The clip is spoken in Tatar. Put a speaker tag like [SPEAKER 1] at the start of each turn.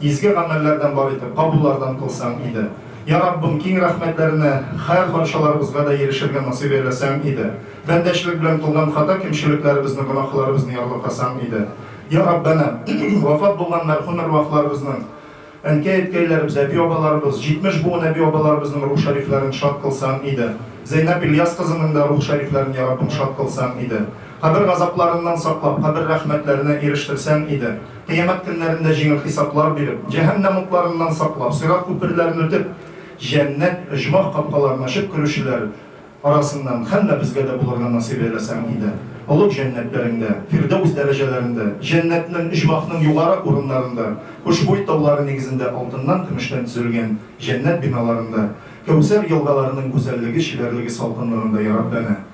[SPEAKER 1] Изге гамәлләрдән бар итеп кабуллардан кылсаң иде. Йа Раббым, киң рәхмәтләренә хәр парчаларыбызга да ирешергә насыйп әйләсәң иде. Бәндәчлек белән кылган хата кимчелекләребезне, гөнаһларыбызны ярлыкасаң иде. Йа Раббәнә, вафат булган мәрхүм әрвахларыбызның, әнкәй-әткәйләребез, әби-абаларыбыз, 70 буын әби-абаларыбызның рух шәрифләрен шат кылсаң иде. Зәйнәб Ильяс кызының да рух шәрифләрен, Йа Раббым, шат кылсаң иде. Кабер газапларыннан саклап, кабер рәхмәтләренә ирештерсәң иде. Кыямәт көннәрендә җиңел хисаплар биреп, җәһәннәм утларыннан саклап, сират күперләрен үтеп, җәннәт, оҗмах капкаларын ачып керүчеләр арасыннан һәммәбезгә дә булырга насыйп әйләсәң иде. Олуг җәннәтләреңдә, фирдәүс дәрәҗәләрендә, җәннәтнең, оҗмахның югары урыннарында, хушбуй таулары нигезендә алтыннан, көмештән төзелгән җәннәт биналарында, кәүсәр елгаларының гүзәллеге, чибәрлеге, салкынлыгында, яраббәнә!